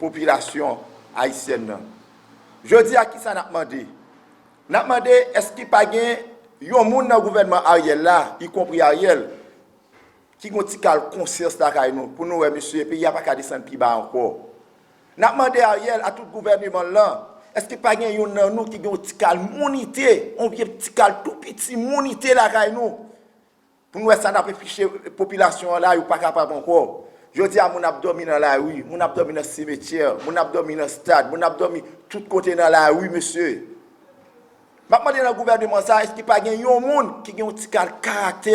Popilasyon ayisyèn nan. Jodi a kisa nap mande? Nap mande eske pa gen yon moun nan gouvènman Ariel la, y konpri Ariel, ki gon ti kal konsyans lakay nou pou nou wè mesye peyi a pa ka desann pi ba ankò. Nap mande Ariel a tout gouvèneman l lan, eske pa gen youn nan nou ki gen yon ti kal mounite, yon vye ti kal tou piti mounite lakay nou? Pou nou wè sa nap efiche popilasyon an la yo pa kapab ankò. Jodi a moun ap dòmi nan lari, moun ap dòmi nan simetyè, moun ap dòmi nan stad, moun ap dòmi tout kote nan lari mesye. Map mande nan gouvèneman sa èske pa gen yon moun ki gen yon ti kal karaktè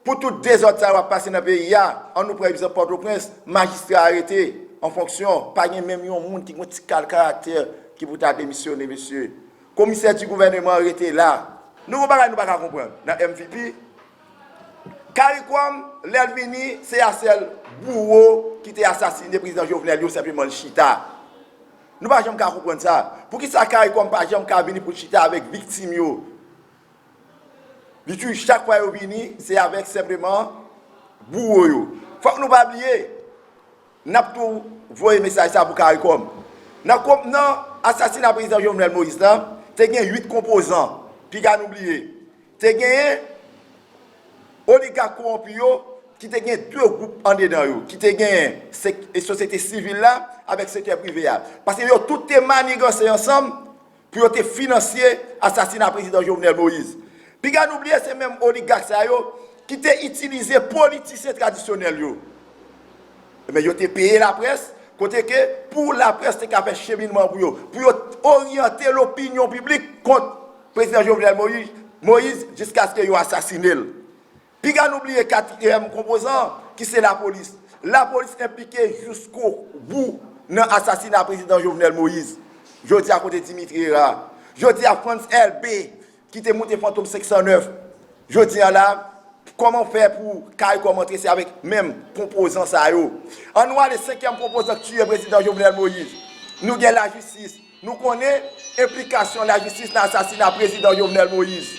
pou tout dezòd sa yo ap pase nan peyi a, an nou pran egzanp pòtoprens, majistra arete an fonksyon, pa gen menm yon moun ki gen yon ti kal karaktè ki pou ta demisyone mesye. Komisè di gouvèneman an rete la. Nou gon bagay nou paka konprann nan MVP, Karikom lèl vini se a sèl bouwo ki te asasine prezidan Jovenel yo senpleman l chita. Nou pa janm ka konprann sa. Poukisa Karikom pa janm ka vini poul chita avèk viktim yo. Li tuju chak fwa yo vini se avèk senpleman bouwo yo. Fòk nou pa bliye. N ap tou voye mesaj sa pou caricom. Nan konp nan asasina prezidan Jovenel Moïse la, te gen 8 konpozan. Piga nou bliye. Te genyen oligak kowonpi yo ki te gen 2 gwoup andedan yo. Ki te genyen sosyete sivil la avèk sektè prive a. Paske yo tout te maniganse ansanm. pou yo te finansye asasina prezidan Jovenel Moïse. Piga nou bliye se menm oligak sa yo ki te itilize politisyen tradisyonèl yo. Enben yo te peye laprès kote ke pou laprès te ka fè cheminman pou yo, pou yo oryante lopinyon piblik kont prezidan Jovenel Moïse jiskaske yo asasine l. Piga nou bliye katriyèm konpozan an ki se lapolis. Lapolis enplike jouskou bou nan asasina prezidan Jovenel Moïse. Jodi a kote Dimitri Hera? Jodi a Frantz Elbe ki te moute Fantom 509? Jodi a la kòman w fè pou Caricom antre se avèk menm konpozan sa yo? An nou ale senkyèm konpozan k tiye prezidan Jovenel Moïse. Nou gen lajistis. Nou konnen enplikasyon lajistis nan asasina Prezidan Jovenel Moïse.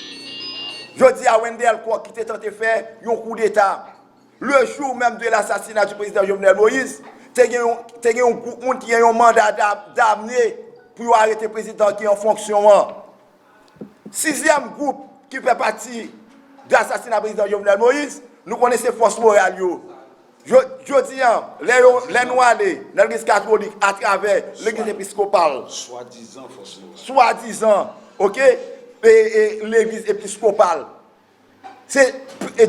Jodi a Wendé Alcourt ki te tante fè yon koudeta, le jour même de l'assassinat du Président Jovenel Moïse, te gen yon gwoup moun ki gen yon manda damne pou yo arete Prezidan ki an fonksyon an. Sizyèm gwoup ki fè pati de asasina prezidan Jovenel Moïse, nou konnen se fòs moral yo. Jodi an, lè nou ale nan legliz katolik atravè legliz episkopal, swadizan, ok, legliz episkopal, Se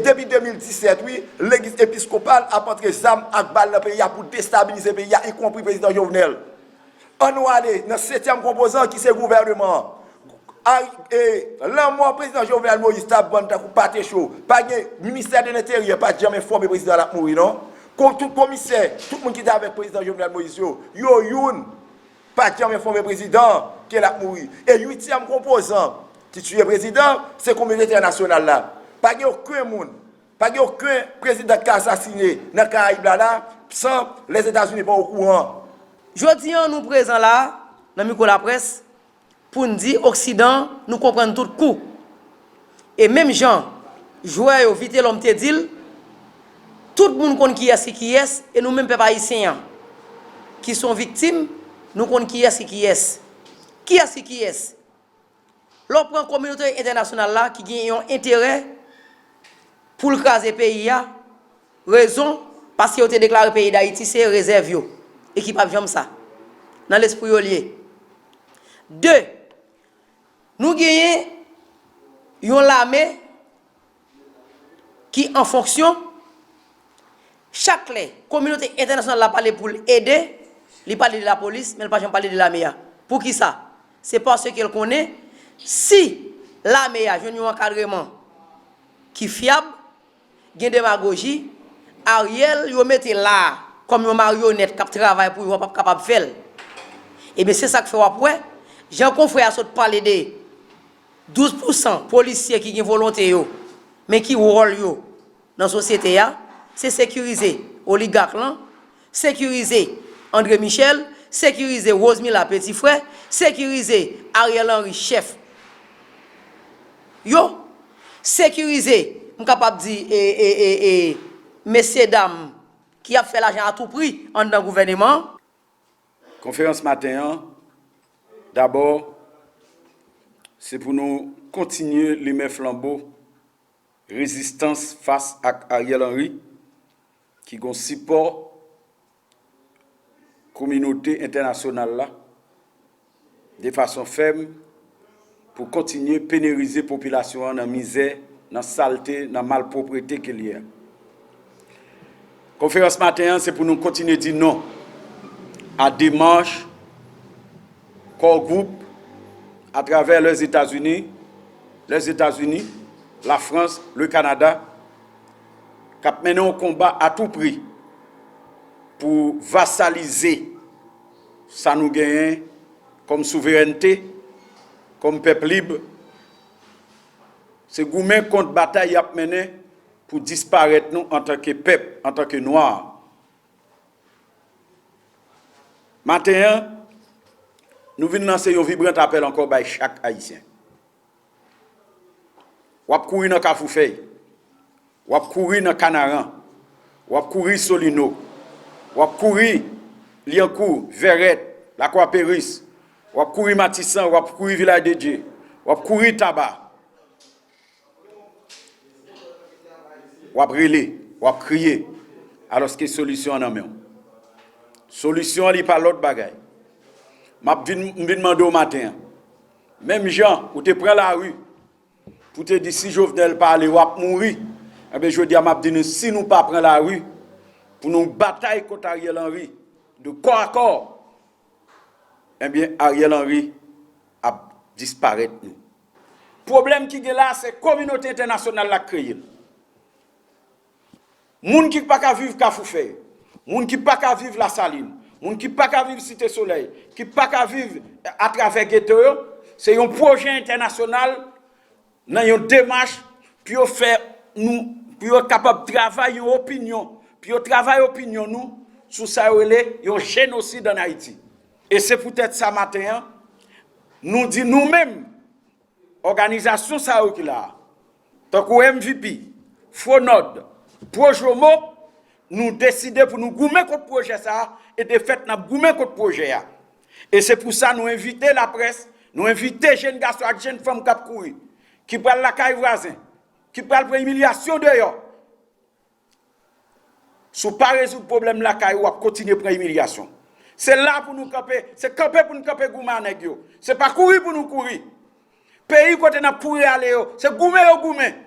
depi 2017 wi legliz episkopal ap antre zam ak bal nan peyi a pou destabilize peyi a ikonpri prezidan Jovenel. An nou ale nan setyèm konpozan ki se gouvèneman an. Lanmò prezidan Jovenel Moïse t ap vann tankou pate cho. Pa gen ministè de lenteryè pa t janm enfòme prezidan l ap mouri non. Tout komisè, tout moun ki te avèk prezidan Jovenel Moïse yo, yo youn pa janm enfòme prezidan an ke l ap mouri e uityèm konpozan ki tiye prezidan an se kominote entènasyonal la. Pa gen oken moun, pa gen oken prezidan ki ka asasine nan Karayib la la san Lèzetazini pa okouran. Jodi an nou prezan la a, nan mikwo laprès, Pou n di oksidan nou konprann tout kou. E menm jan jwè yo Vitelòm te di l, tout moun konn kiyès ki kiyès e nou menm pèp ayisyen an ki s on viktim nou konn kiyès ki kiyès. Kiyès ki kiyès? Lè w pran kominote entènasyonal la ki gen yon enterè pou l kraze peyi a, Rezon, paske yo te deklare peyi Dayiti se rezèv yo, e ki pap janm sa. Nan lespri yo li ye. 2, Nou genyen yon lame ki an fonksyon, chak lè kominote entènasyonal la pale pou l ede, li pale de lapolis, men l pa janm pale de lame a. Pou ki sa? Se paske l konnen, si lame a jwenn yon ankadreman ki fyab, gen demagoji, Ariel yo mete la a kòm yon maryonèt k ap travay pou yo an p ap kapab fè l. Ebyen se sa k fè w ap wè, jan konfrè a sot pale de 12 pousan polisye ki gen volonte yo, men ki wòl yo nan sosyete a, se sekirize oligak lan, Sekirize Andre Michel, sekirize Rosemila peti frè, sekirize Ariel Henry chèf yo, sekirize m kapab di e e e e mesye dam ki ap fè lajan a tou pri anndan gouvèneman an. Konferans maten an, dabò se pou nou kontinye limen flanbo rezistans fas ak Ariel Henry. ki gon sipò kominote entènasyonal la de fason fèm pou kontinye penerize popilasyon an nan mizè, nan salte, nan malpwoprete ke l ye a. Konferans maten an se pou nou kontinye di non a demach Core Group a travè Lèzetazini, Lèzetazini, Lafrans, Lekanada k ap mennen yon konba a tou pri pou vasalize sa nou genyen kòm souverènte, kòm pèp lib, se goumen kont batay y ap mennen pou disparèt nou antanke pèp, antanke nwa. Maten an, nou vin lanse yon vibrant apèl ankò bay chak Ayisyen. W ap kouri nan Kafou Fèy, w ap kouri nan Kanaran, w ap kouri Solino, w ap kouri Lyankou, Vèrèt, Lakwa Peris, w ap kouri Matisan, w ap kouri Vilaj de Dye, w ap kouri Taba, w ap rele, w ap kriye, alòske solisyon an nan men w. Solisyon an li pa lòt bagay. M ap vin, m vin mande w maten an. Menm jan ou te pran lari pou te di si Jovenel pa ale wap mouri, enben jodi a map di nou si nou pa pran lari pou nou batay kont Ariel Henry de kò a kò, enben Ariel Henry ap disparèt nou. Pwoblèm ki gen la se kominote entènasyonal la k kreye l. Moun ki pa ka viv Kafoufèy, moun ki pa ka viv Lasalin, moun ki pa ka viv Site Solèy, ki pa ka viv atravè geto yo, se yon pwojè entènasyonal nan yon demach pou yo fè nou, pou yo kapab travay yon opinyon, pou yo travay opinyon nou sou sa yo rele yon jenosid an Ayiti. E se poutèt sa maten an, nou di nou menm, Òganizasyon sa yo ki la a, tankou MVP, Fronord, Projomo, nou deside pou nou goumen kont pwojè sa a e de fèt n ap goumen kont pwojè a. E se pou sa nou envite laprès, nou envite jenn gason ak jenn fanm k ap kouri, ki pral lakay vwazen, ki pral pran imilyasyon deyò Si w pa rezoud pwoblèm lakay ou, w ap kontinye pran imilyasyon. Se la pou nou kanpe, se kanpe pou nou kanpe goumen a nèg yo. Se pa kouri pou nou kouri. Peyi kote n ap kouri ale yo, se goumen yo goumen.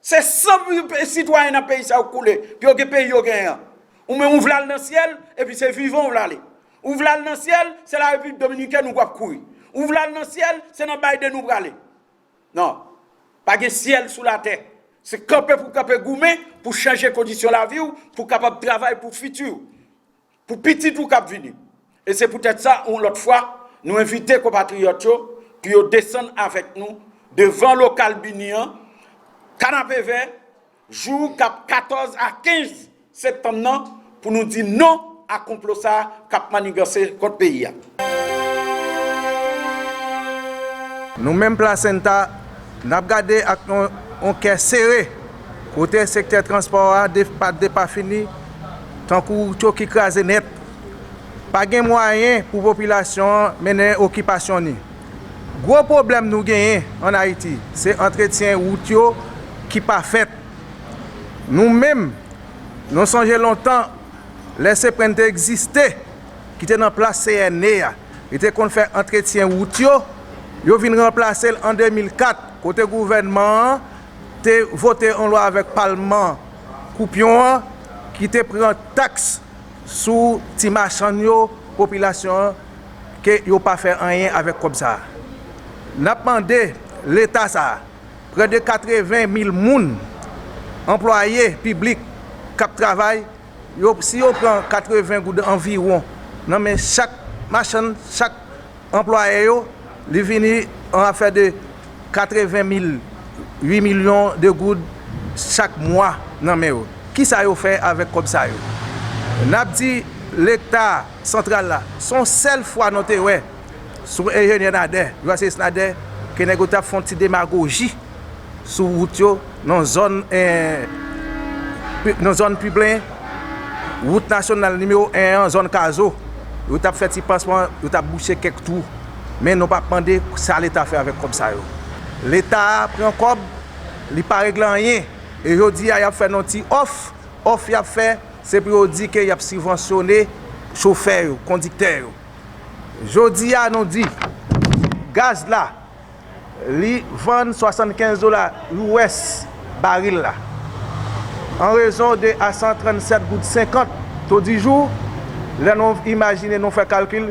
Se san sitwayen nan peyi sa yo k koule pou yo gen peyi yo genyen an. Ou menm ou vle al nan syèl, epi se vivan ou vle ale. Ou vle al nan syèl, se la Repiblik Dominikèn ou pap kouri. Ou vle al nan syèl, se nan Biden ou prale. Non. Pa gen syèl sou latè. Se kanpe pou w kanpe goumen pou w chanje kondisyon lavi w pou w kapab travay pou fiti w. Pou pitit ou k ap vini. E se poutèt sa yon lòt fwa nou envite konpatriyòt yo pou yo desann avèk nou devan lokal BINUH an, Kanapevè, Jou k ap 14 a 15 septanm nan pou nou di non a konplo sa k ap manniganse kont peyi a. Nou menm Plasenta, n ap gade ak yon kè sere kote sektè transpò a depafini tankou cho ki kraze nèt. Pa gen mwayen pou popilasyon an mennen okipasyon ni. Gwo pwoblèm nou genyen an Ayiti, se antretyen wout yo ki pa fèt. Nou menm, nou sonje lontan, lè CPREN te egziste, ki te nan plas CNE a, li te konn fè antretyen wout yo, yo vin ranplase l an 2004, kote gouvènman an te vote yon lwa avèk palman koupyon an ki te pran taks sou ti machann yo, popilasyon an. ke yo pa fè anyen avèk kòb sa a. N ap mande Leta sa a, prè de 80 mil moun, anplwaye piblik k ap travay, yo si yo pran 80 goud anviwon nan men chak machann, chak anplwaye yo, li vini yon afè de 80 mil, 8 milyon de goud chak mwa nan men yo. Kisa yo fè avèk kòb sa yo? N ap di Leta. Santral la. Son sèl fwa nou te wè sou enjenyè Nader, jouaseyis Nader ke nèg yo tap fon ti demagoji sou wout yo nan zòn nan zòn piblen wout nasyonal nimewo 1 an zòn kazo yo tap fè ti pansman yo tap bouche kèk twou men nou pap mande sa leta fè avèk kòb sa yo leta pran kòb li pa regle anyen e jodi a yap fè nou ti òf òf yap fè. Se pou yo di ke yap sibvansyone chofè yo, kondiktè yo. Jodi a nou di, gaz la, li vann 75 dola US baril la. An rezon de a 137 goud 50 todijou, lè nou imajine nou fè kalkil,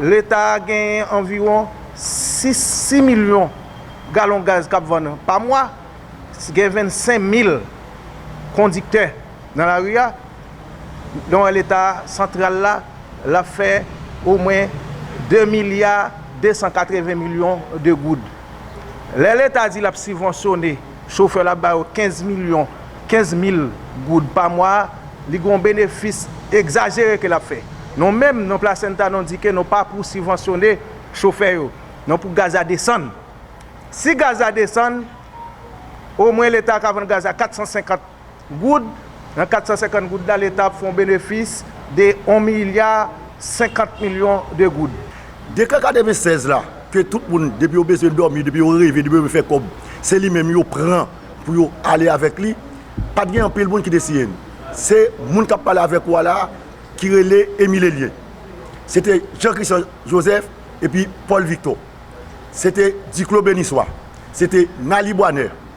Leta a genyen anviwon 6 milyon galon gaz k ap vann pa mwa, gen 25 mil kondiktè nan lari a, nou wè Leta santral la, l ap fè omwen 2 milya 280 milyon de goud. Lè Leta di l ap sibvansyone. Chofè la ba yo 15 milyon, 15 mil, goud pa mwa, li gen yon benefis egzajere ke l ap fè. Nou menm, nan Plasenta, nou di ke nou pa pou sibvansyone chofè yo. Nou pou gaz la desann. Si gaz la desann, omwen Leta ka vann gaz la 450. goud. Nan 450 goud la, leta ap fè yon benefis de 1 milya 50 milyon de goud. Dekrè 96 la, ke tout moun, depi yo bezwen dòmi, depi yo reve, depi yo vle fè kòb, se li menm yo pran pou yo ale avèk li, pa t gen anpil moun ki te siyen li. Se moun k ap pale avèk ou a la a, ki rele Emile Elien. Se te Jean Christian Joseph epi Paul Victor. Se te Duclos Benissoit. Se te Naly Boisner.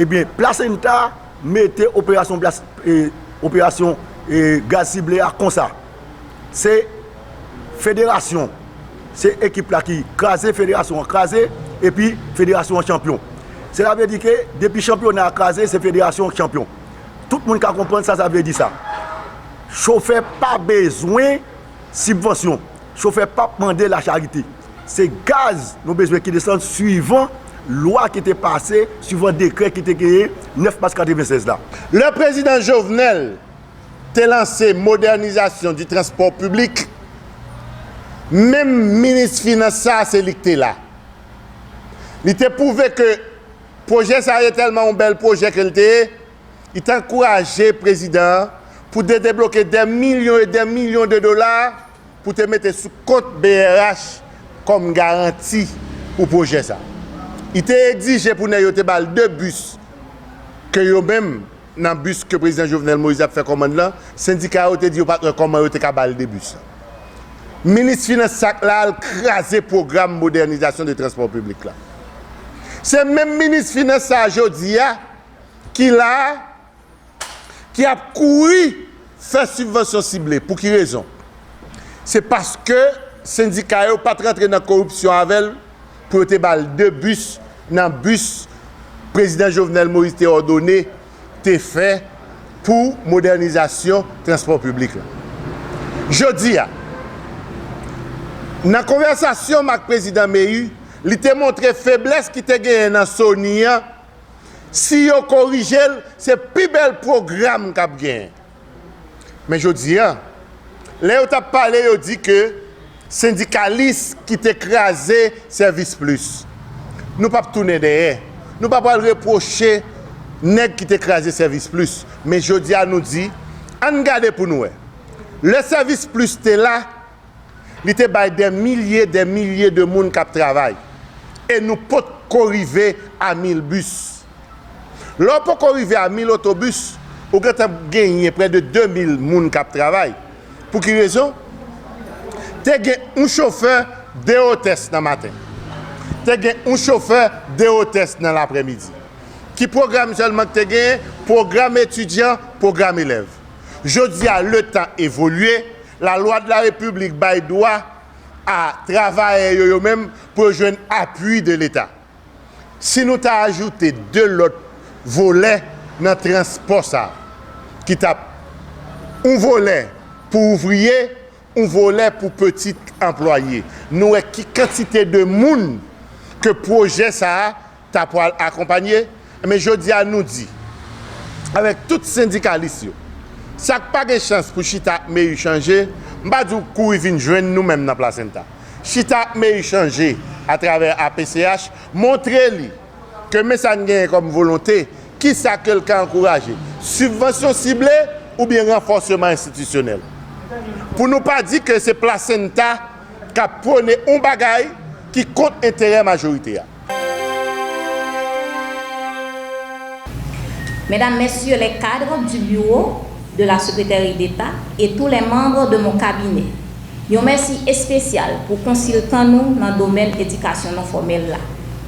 Ebyen plasenta mete operasyon plas e operasyon e gaz sible a konsa se federasyon se ekip la ki kraze federasyon an kraze epi federasyon an chanpyon sela vle di ke depi chanpyona a kraze se federasyon ki chanpyon tout moun ka konprann sa sa vle di sa chofè pa bezwen Sibvansyon, chofè pap mande lacharite. Se gaz nou bezwen ki desann swivan lwa ki te pase, swivan dekrè ki te genyen 9 mas 96 la. Lè prezidan Jovenel te lanse modènizasyon di transpò piblik, menm minis finans sa se li ki te la. Li te pwouve ke pwojè sa ye tèlman yon bèl pwojè ke li te ye, Li te ankouraje prezidan an pou te debloke dè milyon e dè milyon de dola pou te mete sou kont brh kòm garanti pou pwojè sa. Li te egzije pou nèg yo te ba l 2 bis ke yo menm nan bis ke prezidan Jovenel Moïse ap fè kòmand lan, sendika yo te di yo pat wè kòman yo te ka ba l 2 bis lan. Minis finans sa k la al kraze pwogram modènizasyon de transpò piblik la. Se menm minis finans sa a jodi a. ki la a, ki ap kouri fè sibvansyon sible. Pou ki rezon? Se paske sendika yo pa t rantre nan koripsyon avè l pou yo te ba l 2 bis nan bis Prezidan Jovenel Moïse te òdone te fè pou modènizasyon transpò piblik la. Jodi a, nan konvèsasyon m ak Prezidan Méhu, li te montre feblès ki te genyen nan Sony an Si yo korije l, se pi bèl pwogram k ap gen. Men jodi a, lè yo t ap pale yo di ke sendikalis ki te kraze Sèvis Plis. Nou p ap tounen dèyè. Nou pa pral repwoche nèg ki te kraze Sèvis Plis. Men jodi a nou di, ann gade pou n wè. Lè Sèvis Plis te la, Li te bay dè milye dè milye de moun kap travay. E nou pot ko rive a mil bis. Lè w poko rive a mil otobis, ou gentan p genyen prè de de mil moun kap travay. Pou ki rezon? Te gen yon chofè, de otès nan maten. Te gen yon chofè, de otès nan laprè midi. Ki pwogram sèlman ki te genyen? Pwogram etidyan, pwogram elèv. Jodi a, letan evolye, Lalwa de la Repiblik bay dwa a travayè yo yo menm pou yo jwenn apui de leta. Si nou ta ajoute 2 lòt volè nan transpò sa a ki t ap yon volè pou ouvriye, yon volè pou peti anplwaye, nou wè ki kantite de moun ke pwojè sa a ta pwal akonpanye, enben jodi a nou di avèk tout sendikalis yo, sa k pa gen chans pou chita ak Méhu chanje, m pa di w kouri vin jwenn nou menm nan Plasenta. Chita ak Méhu chanje atravè APCH montre li ke men sa n genyen kòm volonte, ki sa ke l ka ankouraje, sibvansyon sible oubyen ranfòseman enstitisyonèl. Pou nou pa di ke se Plasenta k ap pwone yon bagay ki kont enterè majorite a. Mesdames, Messieurs les cadres du Bureau de la Secrétairie d'État et tous les membres de mon cabinet, yon mèsi espesyal pou konsiltan nou nan domèn edikasyon non fòmèl la,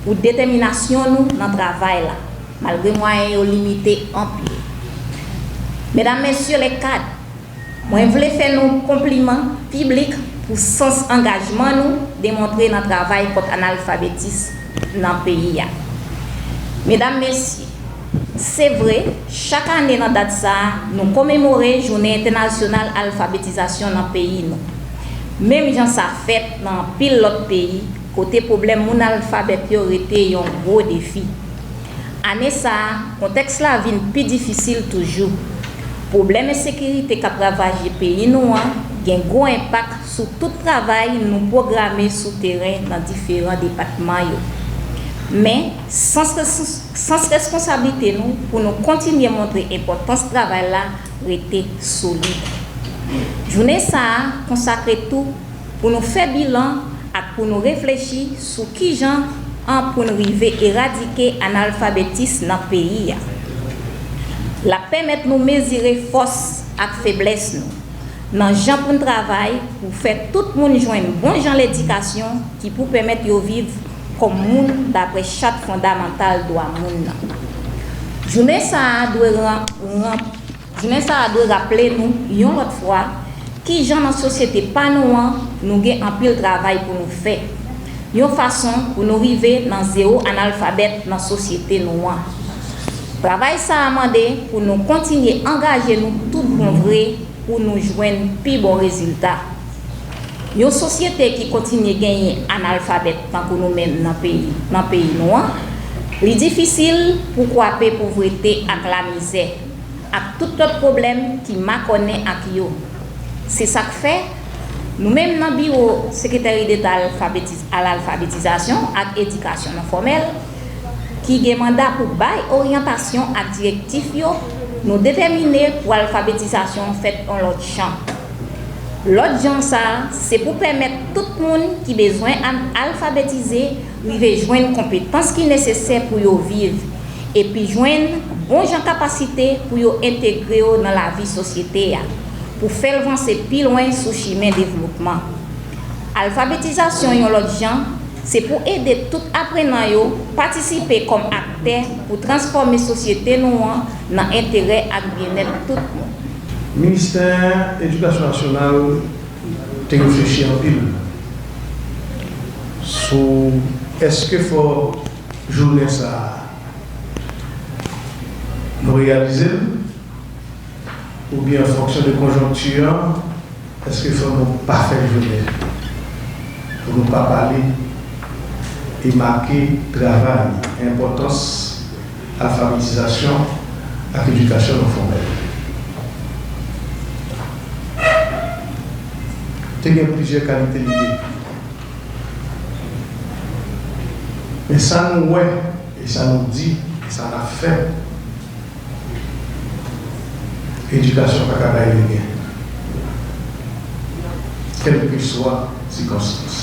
pou detèminasyon nou nan travay la, malgre mwayen yo limite anpil. Mesdames, Messieurs les cadres. Mwen vle fè nou konpliman piblik pou sans angajman nou demontre nan travay kont analfabetism nan peyi a. Medam, Mesye, se vre, chak ane nan dat sa a, nou komemore Jounen Entènasyonal Alfabetizasyon nan peyi nou. Menm jan sa fèt nan anpil lòt peyi, kote pwoblèm moun alfabèt yo rete yon gwo defi. Ane sa a, kontèks la vin pi difisil toujou. Pwoblèm ensekirite k ap ravaje peyi nou an gen gwo enpak sou tout travay nou pwograme sou teren nan diferan depatman yo. Men, sans reskonsablite nou pou nou kontinye montre enpòtans travay la rete solid. Jounen sa a konsakre tou pou nou fè bilan ak pou nou reflechi sou kijan an pou n rive eradike analfabetis nan peyi a. L ap pèmèt nou mezire fòs ak feblès nou nan jan pou n travay pou fè tout moun jwenn bon jan ledikasyon ki pou pèmèt yo viv kòm moun daprè Chat Fondamantal Dwa Moun nan. Jounen sa a dwe ran. Jounen sa a dwe raple nou, yon lòt fwa, ki jan nan sosyete pa nou an, nou gen anpil travay pou nou fè, yon fason pou nou rive nan zewo analfabèt nan sosyete nou an. Travay sa a mande pou nou kontinye angaje nou tout bon vre pou nou jwenn pi bon rezilta. Yon sosyete ki kontinye genyen analfabèt tankou nou menm nan peyi nan peyi nou an, li difisil pou kwape povrete ak lamizè. ak tout lòt pwoblèm ki makònen ak yo. Se sa k fè, nou menm nan Biwo Sekreteri Deta alalfabetizasyon ak edikasyon non fòmèl, ki gen manda pou bay oryantasyon ak direktif yo, nou detèmine pou alfabetizasyon fèt yon lòt jan. Lòt jan sa a, se pou pèmèt tout moun ki bezwen alfabetize, rive jwenn konpetans ki nesesè pou yo viv epi jwenn bon jan kapasite pou yo entegre yo nan lavi sosyete a, pou fè l vanse pi lwen sou chimen devlopman. Alfabetizasyon yon lòt jan, se pou ede tout aprenan yo patisipe kòm aktè pou transfòme sosyete nou an nan enterè ak byennèt tout moun. Ministè Edikasyon Nasyonal. te reflechi anpil sou èske fò jounen sa a nou reyalize l oubyen an fonksyon de konjonkti an èske fò nou pa fè jounen pou nou pa pale e make travay enpòtans Alfabetizasyon ak edikasyon non fòmèl te gen plizyè kalite lide, men sa nou wè e sa nou di e sa n ap fè, edikasyon pa ka bay lide, kèlkeswa sikonstans.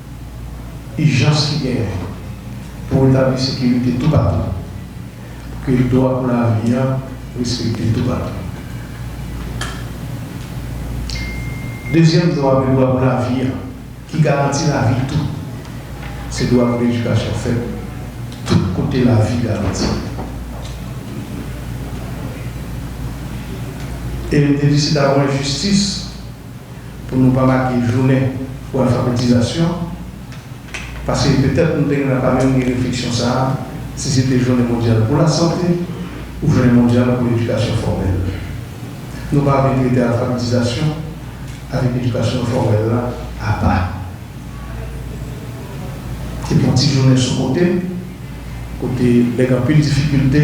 ijans ki genyen pou retabli sekirite toupatou, pou ke dwa pou lavi a respekte toupatou. Dezyèm dwa ke dwa pou lavi a, ki garanti lavi tou, se dwa pou edikasyon fèt tout kote lavi garanti. E li te di se ta pou enjistis pou nou pa make jounen pou alfabetizasyon, paske petèt nou te gentan pa menm gen refleksyon sa a si se te jounen mondyal pou lasante ou jounen mondyal pou edikasyon fòmèl. Nou pa vle trete alfabetizasyon avèk edikasyon fòmèl la apa. Se pou ti jounen sou kote, kote lè gen anpil difikilte,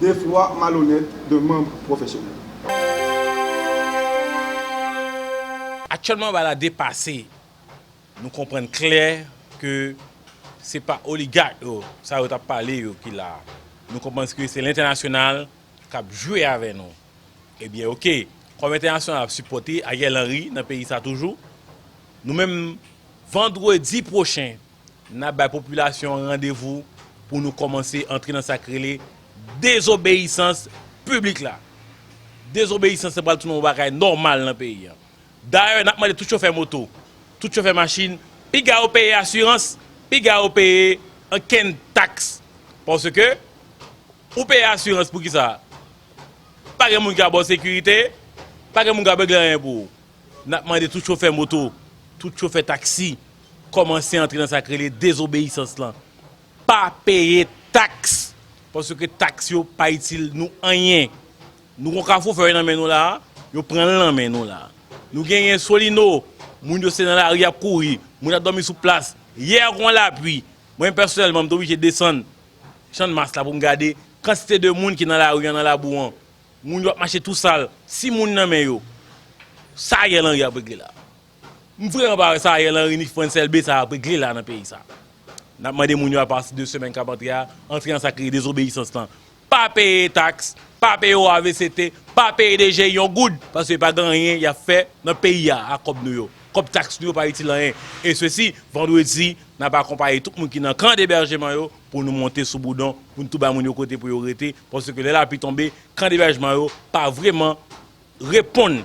de fwa malonèt de manb pwofesyonèl. Aktyèlman bagay la depase, nou konprann klè ke se pa oligak yo sa yo tap pale yo ki la a. Nou konprann ke se lentènasyonal kap jwe avè nou. Ebyen ok, kòm entènasyonal ap sipòte Ariel Henry nan peyi sa toujou, nou menm vandredi pwochen N ap bay popilasyon an randevou pou nou kòmanse antre nan sa k rele dezobeyisans piblik la. Dezobeyisans la pral tounen yon bagay nòmal nan peyi an. Dayè, n ap mande tout chofè moto, tout chofè machin, piga yo peye asirans, piga yo peye ankenn taks. Paske, ou peye asirans pou ki sa? Pa gen moun ki ap ba w sekirite, pa gen moun k ap regle anyen pou ou. N ap mande tout chofè moto, tout chofè taksi, kòmanse antre nan sak rele dezobeyisans lan. Pa peye taks paske taks yo pa itil nou anyen. Nou gon kafou fè yo nan men nou la, yo pran l nan men nou la. Nou genyen solino, moun yo se nan lari y ap kouri, moun ap dòmi sou plas. Yè gon lapui, mwen pèsonèlman m te oblije desann channmas la pou m gade kantite de moun ki nan lari an nan labou an. Moun yo ap mache tou sal. Si moun nan men yo, sa Ariel Henry ap regle la? M vreman pa wè sa Ariel Henry ni Frantz Elbé sa ap regle la nan peyi sa. N ap mande moun yo apati de semèn k ap antre a, antre nan sa ki rele dezobeyisans lan. Pa peye taks, pa peye OAVCT, pa peye DGI yon goud, paske pa gen anyen y ap fè nan peyi a ak kòb nou yo. Kòb taks nou yo pa itil anyen. E sesi, vandredi, n ap akonpaye tout moun ki nan kan debèjman yo pou nou monte sou boudon, pou n tou bay moun yo kote pou yo rete, paske lè lapli tonbe, kan debèjman yo pa vreman reponn.